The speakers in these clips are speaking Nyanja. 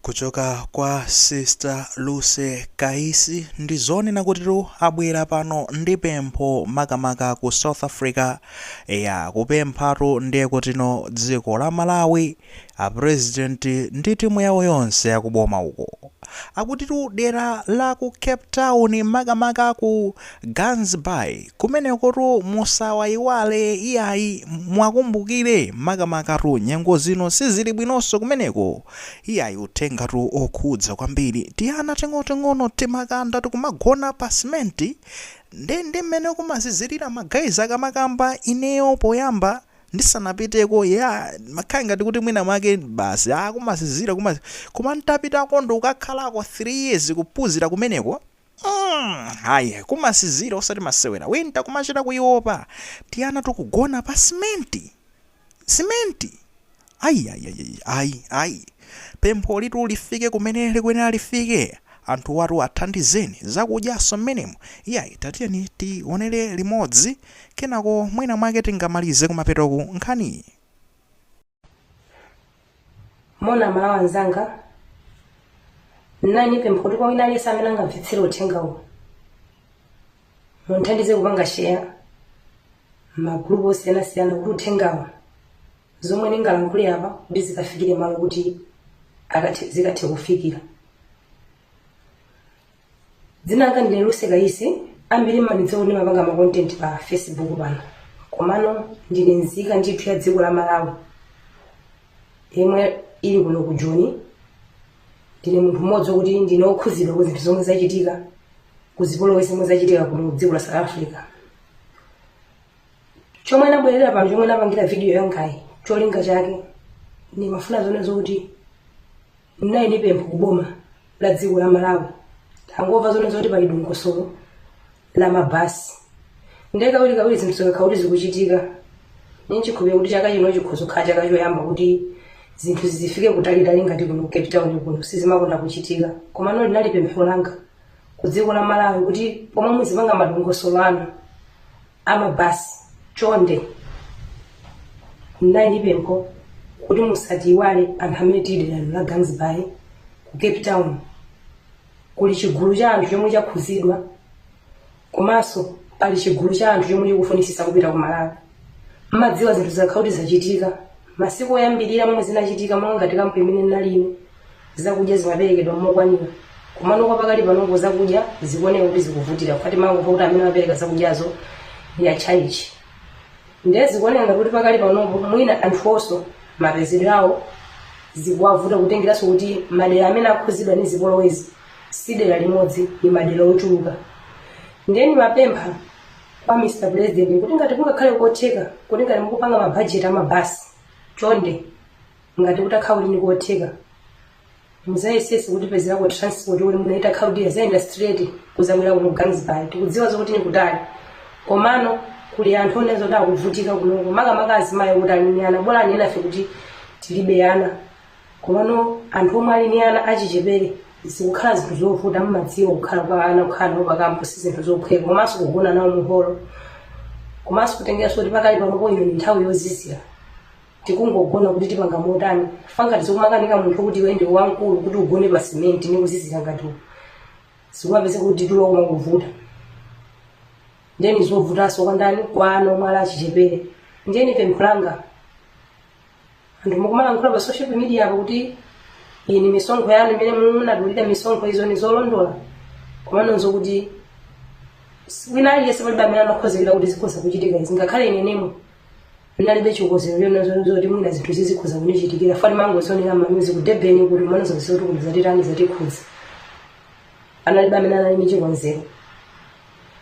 Kuchoka kwa Sister Lucy Kaisi, ndi zonena kutitu abwera pano ndi pempho makamaka ku South Africa. Eya, kupemphatu ndiye kutino dziko la Malawi, a president ndi timu yawo yonse yakuboma uko. Akutitu dera la ku Cape Town makamaka ku Gansbaai kumenekotu musawayiwale iyayi muwakumbukire makamakatu nyengo zino sizili bwinonso kumeneko iyayi uthengatu okhudza kwambiri tiana ting'oting'ono timakanda tikumagona pa cement nde ndi mmene kumazizilira ma guys akamakamba ineyo poyamba ndisanapiteko yeah ndimakhala ngati kuti mwina mwake basi ah kumazizira kumaz koma ntapitako ndikukakhalako 3 years kuphuzira kumeneko mm ayi kumazizira osati masewera winter kumachita kuiopa tiana tukugona pa simenti simenti ayi ayi ayi ayi ayi pempho ilitu lifike kumene likuyenera lifike anthu watu athandizeni zakudyaso mmenemo iyayi tatiyeni tionere limodzi kenako mwina mwake tingamalize kumapetoku nkhaniyi moni a malawi anzanga ndinali ndi pempho kuti kwa wina aliyense amene angamvetsere uthenga uwu munthandize kupanga sheya m'magulupu osiyanasiyana kuti uthengawu zomwe ndingalankhule apa kuti zikafikire malo kuti akathe- zikathe kufikira dzina langa ndine luse kayisi ambiri mmandidziwa kuti ndimapanga makontenti pa facebook pano komano ndine nzika ndithu ya dziko la malawi yemwe ili kuno ku joni ndine munthu mmodzi wokuti ndine wokhuzidwa ku zinthu zomwe zachitika ku zipolowe zomwe zachitika kuno ku dziko la south africa chomwe nabwerera pano chomwe napangira vidiyo yangayi cholinga chake ndimafuna zonena zokuti ndinali ndi pempho kuboma la dziko la malawi tangomva zonena zoti pali dongosolo la mabasi ndiye kawirikawiri zinthu zikakhala kuti zikuchitika ndili nchikhulupiriro kuti chaka chino chikhoza kukhala chaka choyamba kuti zinthu zizifike kutalitali ngati kuno ku cape town kuno sizimakonda kuchitika komano linali pempho langa ku dziko la malawi kuti pomwe muzipanga madongosolo anu amabasi chonde mnali ndi pempho kuti musatiiwale anthu amene tili derano la gansbay ku cape town kuli chigulu cha anthu chomwe chakhuzidwa komanso pali chigulu cha anthu chomwe chikufunitsitsa kupita ku malawi mmadziwa zinthu zakhala kuti zachitika Masiku oyambirira momwe zinachitika monga ngati kampu imene ndinali ine, zakudya zimaperekedwa mokwanira. Komano kwa pakali panopo zakudya zikuoneka kuti zikuvutira chifukwa timangomva kuti amene amapereka zakudyazo ndi atchalitchi. Ndiye zikuoneka ngati kuti pakali panopo mwina anthuwonso mapezedwe awo zikuwavuta kutengeranso kuti madera amene akhudzidwa ndi zipolowezi si dera limodzi, ndi madera ochuluka. Ndiye ndimapempha kwa mr president kuti ngati kungakhale kotheka kuti ngati mukupanga mabhajeti amabasi chonde ngati kutakhala kuti ndikotheka muzayesese kutipezerako transport kuti mwina ikakhala kuti yayenda straight kuzabwera kuno Gansbaai tikudziwa zokuti nikutali komano kuli anthu onena zoti akuvutika kunoko makamaka azimayi kuti ali ni ana bola enafe kuti tilibe ana komano anthu omwe ali ndi ana achichepere zikukhala zinthu zovuta mmadziwa kukhala kwa ana kukhala nawo pakampu si zinthu zophweka komanso kugona nawo muholo komanso kutengeranso kuti pakali panopo ino ndi nthawi yozizira tikungogona kuti tipanga motani fa ngati zikumakanika munthu kuti iwe ndi wamkulu kuti ugone pa simenti ndi kuzizira ngati uku zikumapezeka kuti tulo kumavuta ndiye ndi zovutanso kwa ndani kwa ana omwe ali achichepere ndiye ni pempho langa anthu mukumalankhula pa social media apo kuti iyi ni misonkho yanu imene munadulira misonkho izo ni zolondola komanonso kuti wina aliyense palibe amene amakonzekera kuti zikhoza kuchitika izi ngakhale ineyo nemwe ndinalibe chikonzero chonena zoti mwina zinthu izi zikhoza kundichitikira fa timangozionera mwa amzathu ku Durban kuti mmawa zisanduka kuti zatitani zatikhudza panalibe amene anali ndi chikonzero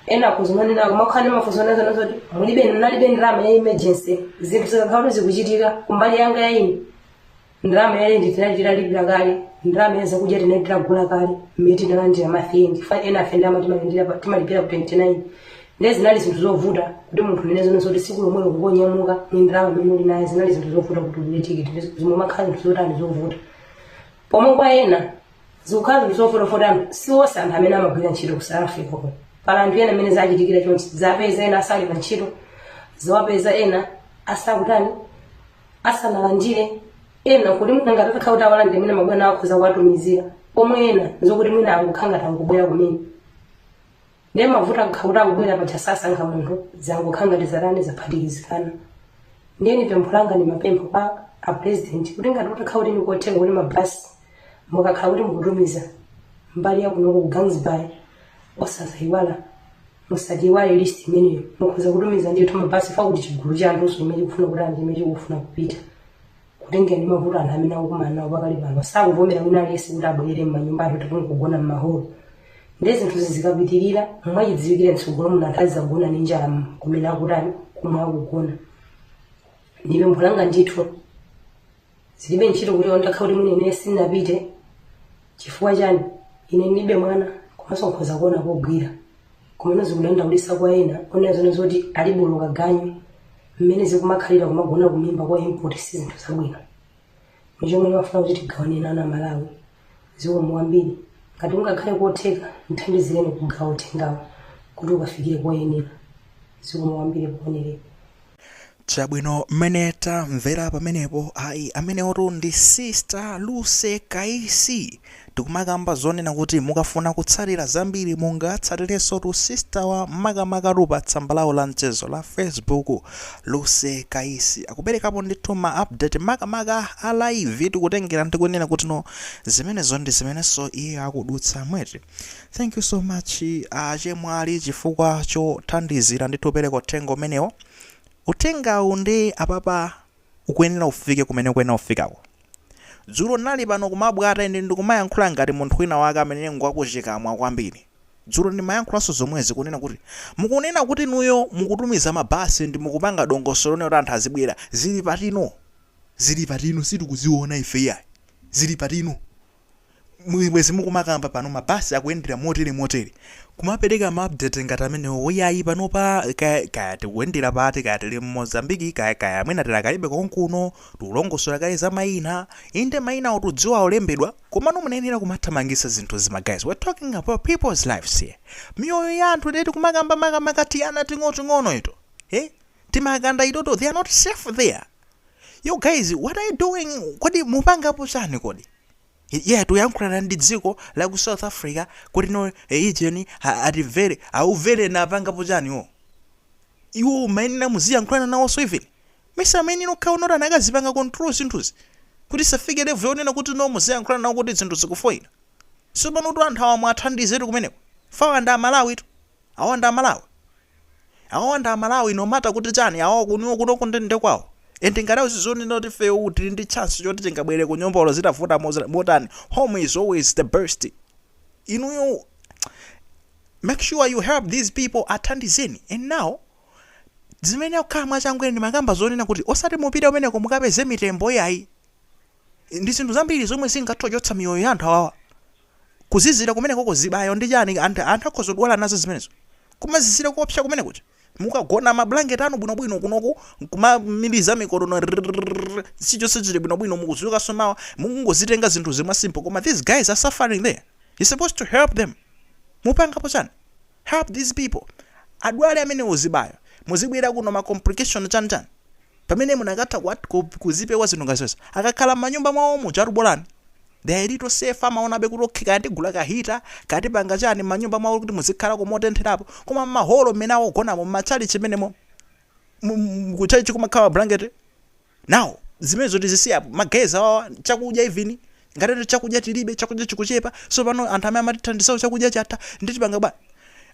ena kuzimenezo akumakhala ndi mafunso onena zoti mulibe nalibe ndalama ya emergency zinthu zikakhala kuti zikuchitika kumbali yanga ya ine ndalama ya rent tinali titalipira kale ndalama ya zakudya tinali titagula kale mmene tinalandira ma twenty five ena afe ndalama timalandira pa- timalandira ku 29 ndiye zinali zinthu zovuta kuti munthu nonena zoti tsiku lomwelo kungonyamuka ni ndalama imene uli nayo zinali zinthu zovuta kuti ugule tikiti zimene zimakhala zinthu zotani zovuta pomwe kwa ena zikukhala zinthu zovuta poti si onse anthu amene amagwira ntchito ku south africa kuno pali anthu ena amene zachitikira chonchi zawapeza ena asali pa ntchito zawapeza ena asakutani asanalandire ena kuti mwina ngati atakhala kuti awalandire mwina mabwana akhoza kuwatumizira pomwe ena zokuti mwina angokhala ngati angobwera kumene ndiye mavuto akakhala kuti akubwera paja sasankha munthu zangokhala ngati zatani zaphatikizikana ndiye ni pempho langa nimapempha kwa apresident kuti ngati kutakhala kuti nikotheka kuti mabhasi mukakhala kuti mukutumiza mbali yakunoko ku Gansbaai osazayiwala musatiyiwale list imeneyo mukhoza kutumiza ndithu mabhasi fa kuti chigulu cha anthu chomwe chikufuna kuti anthu chimene chikufuna kupita kutengera ndi mavuto anthu amene akukumana nawo pakali pano sakuvomera wina aliyense kuti abwere m'manyumba athu tikuti kugona m'maholo ndiye zinthuzi zikapitirira mwachidziwikire mtsogolo muno anthu azizagona ndi njala m- kumene akutani kumwe akugona ndipo mphulanga ndithu zilibe ntchito kuti ondakha kuti mwina inene sindinapite chifukwa chani ine ndilibe mwana komanso nkhoza kuona kogwira komano zikudandaulitsa kwa ena onena zonena zoti alibe olo kaganyu mmene zikumakhalira kumagona kumimba kwa impoti si zinthu zabwino n'chomwe ndimafuna kuti tigawane nawo amalawi zikomo kwambiri ngati ungakhale kotheka ndithandizireni kugawa uthengawu kuti ukafikire koyenera zikomo kwambiri kuonerepo Chabwino mmene tamvera pamenepo ayi amenewotu ndi Sister Lucy Kaisi tikumakamba zonena kuti mukafuna kutsatira zambiri mungatsatirensotu Sisterwa makamakatu pa tsamba lawo la mchezo la Facebook Lucy Kaisi akuperekapo ndithu ma update makamaka a live tikutengera ndikunena kuti no zimenezo ndi zimenenso iye akudutsamo eti Thank you so much achemwali chifukwa chothandizira ndithu kupereka uthenga umenewo. Uthengawu nde apapa ukuyenera ufike kumene ukuyenera ufikako. Dzulo ndinali pano kumabwebweta ine ndikumayankhula ngati munthu wina wake amene ngwakuchikamwa kwambiri. Dzulo ndimayankhulanso zomwezi kunena kuti mukunena kuti inuyo mukutumiza mabasi nde mukupanga dongosolo lonena kuti anthu azibwera. Zili patino? Zili patino? Sitikuziona ife iyayi. Zili patino? bwezi mukumakamba pano mabasi akuyendera motere motere kumapereka ma update ngati amenewo yayi panopa kaya, kaya tikuyendera pati kaya tili m'Mozambiki kaya kaya mwina tikadalibe konkuno tikulongosola kaye za mayina inde mayina otudziwa olembedwa komano munayenera kumathamangisa zinthuzi ma guys we're talking about people's lives here miyoyo ya anthu eti kumakamba makamaka tiana ting'oting'ono ito eh timakanda itoto they are not safe there yo guys what are you doing kodi mupangapo chani kodi yeah tuyankhulana ndi dziko la ku south africa kuti no ujeni atimvere aumvere napangapo chani wo iwo mumayenera muziyankhulana nawonso even mesa amayenera okhawo noti anakazipanga control zinthuzi kuti zisafike level yonena kuti no muziyankhulana nawo kuti zinthu zikufoyila so pano kuti anthu awa mwathandizetu kumeneko awa ndi amalawitu Awa ndi amalawi. Awawa ndi amalawi no matter kuti chani awawa kunoko kunoko nde kwawo. And ngati akuzidziwa kunena kuti ifeyo tili ndi chance choti tingabwerere kunyumba olo zitavuta moz- motani. Home is always the best. Inuyo make sure you help these people athandizeni. And now zimene zikukhala mwachangu ine ndimakamba zonena kuti osati mupite kumeneko mukapeze mitembo iyayi. Ndi zinthu zambiri zomwe zingathe kuchotsa miyoyo ya anthu awawa. Kuzizira kumenekoko, zibayo ndi chani, anthu akhoza kudwala nazo zimenezo. Kumazizira koopsa kumene kuja. Mukagona mablanketi anu bwinobwino kunoku kumamiliza mikonono rrrrrr chilichonse chili bwinobwino mukudzukanso mawa mukungozitenga zinthuzi mwa simple koma these guys are suffering there, you're supposed to help them. Mupangapo chani? help these people adwale amenewo chibayo muzibwera kuno ma complication chani chani pamene munakatha kuwat kup kuzipewa zinthu ngati zonse akakhala m'manyumba mwawo muja tu bolani they are little safe amaonabe kuti okay kaya tigula ka hita kaya tipanga chani m'manyumba mwawo kuti muzikhalako motentherapo koma m'maholo mmene akugonamo m'matchalitchi mmenemo mu- mu- kutchalitchi kumakhala blanket now zimenezo tizisiye apo ma guys awawa chakudya even ngati ati chakudya tilibe chakudya chikuchepa so pano anthu amene amatithandizawo chakudya chatha nde tipanga bwanji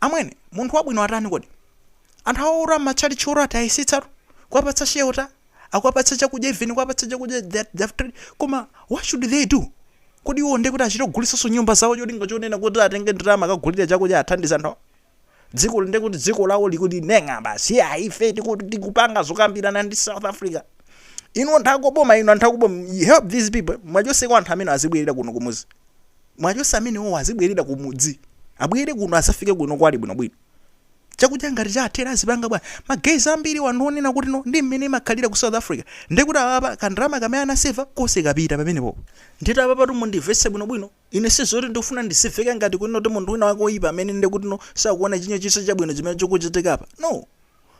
amwene munthu wabwino atani kodi anthu awaora matchalitchi ora ati ayesetsatu kuwapatsa shelter akuwapatsa chakudya even kuwapatsa chakudya they- they have tried. koma what should they do kodi iwo nde kuti achite kugulitsanso nyumba zawo cholinga chonena kuti atenge ndalama akagulire chakudya athandize anthu awo? dziko ndiye kuti dziko lawo likuti neng'a basi ife tikupanga zokambirana ndi south africa inu anthu akuboma inu anthu akuboma you help these people mwachoseko anthu amene azibwerera kuno kumuzi mwachose amene owo azibwerera kumudzi abwere kuno asafike kuno kwali bwinobwino chakudya ngati chathera azipanga bwanji ma guys ambiri anthu onena kuti no ndi mmene imakhalira ku south africa ndekuti apa kandalama kamene anaseva konse kapita pamenepo nde apapatu mundimvetse bwinobwino Ine sizoti ndikufuna ndizimveka ngati kuti no ndi munthu wina wake oyipa amene nde kuti no sakuona chilina chonse chabwino chimene chikuchitika apa no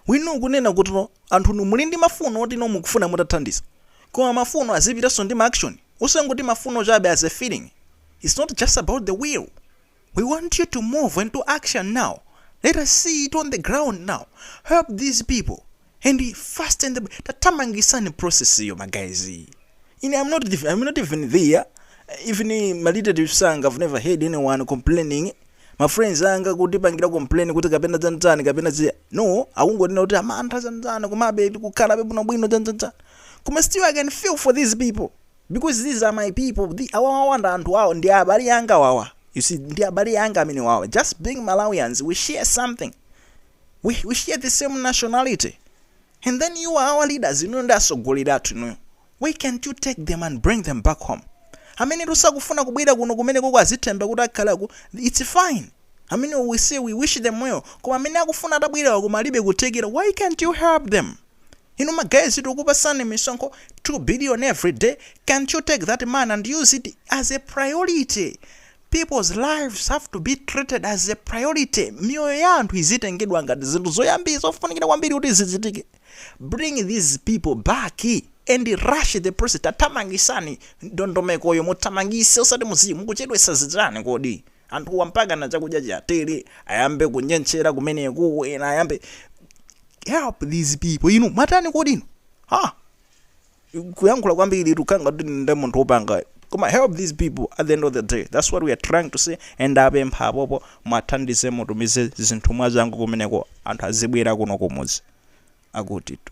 we know kunena kuti no anthu inu muli ndi mafuno oti no mukufuna mutathandiza koma mafuno azipitanso ndi ma action osangoti mafuno chabe as a feeling it's not just about the will we want you to move into action now let us see it on the ground now help these people and fasten tathamangitsani process iyo ma guys ine I'm not, the, I'm not even there even my relatives anga I've never heard anyone complaining my friends anga kutipangira complain kuti kapena dzandzani kapena zi no akungonena kuti a mantha dzandzani komabe tikukhala bwino bwino dzandzandzani koma still I can feel for these people because these are my people the awawa ndi anthu awo ndi abale anga awawa you see ndi abale anga amenewawa just being Malawians we share something we we share the same nationality and then you are our leaders inuyo ndi atsogoleri athu inuyo why can't you take them and bring them back home amenetu sakufuna kubwera kuno kumenekoko azithemba kuti akhale ku it's fine amene we say we wish them well koma amene akufuna atabwerawa koma alibe kuthekera why can't you help them inu ma guys tikukupatsani misonkho 2 billion every day can't you take that money and use it as a priority People's lives have to be treated as a priority, miyoyo ya anthu izitengedwa ngati zinthu zoyambirira zofunikira kwambiri kuti zichitike. Bring these people back and rush the process, tathamangisani ndondomekoyo, muthamangise osati muziyi, mukuchedwesa zichani kodi? Anthuwa mpakana chakudya chiwathere, ayambe kunyentchera kumeneko, ena ayambe. Help these people, inu mwatani kodi inu? Ha! kuyankhula kwambiri tikhala ngati ndi munthu wopanga koma help these people at the end of the day that's what we are trying to say and apempha apopo muwathandize mutumize zinthu mwachangu kumeneko anthu azibwera kuno kumuzi akutitu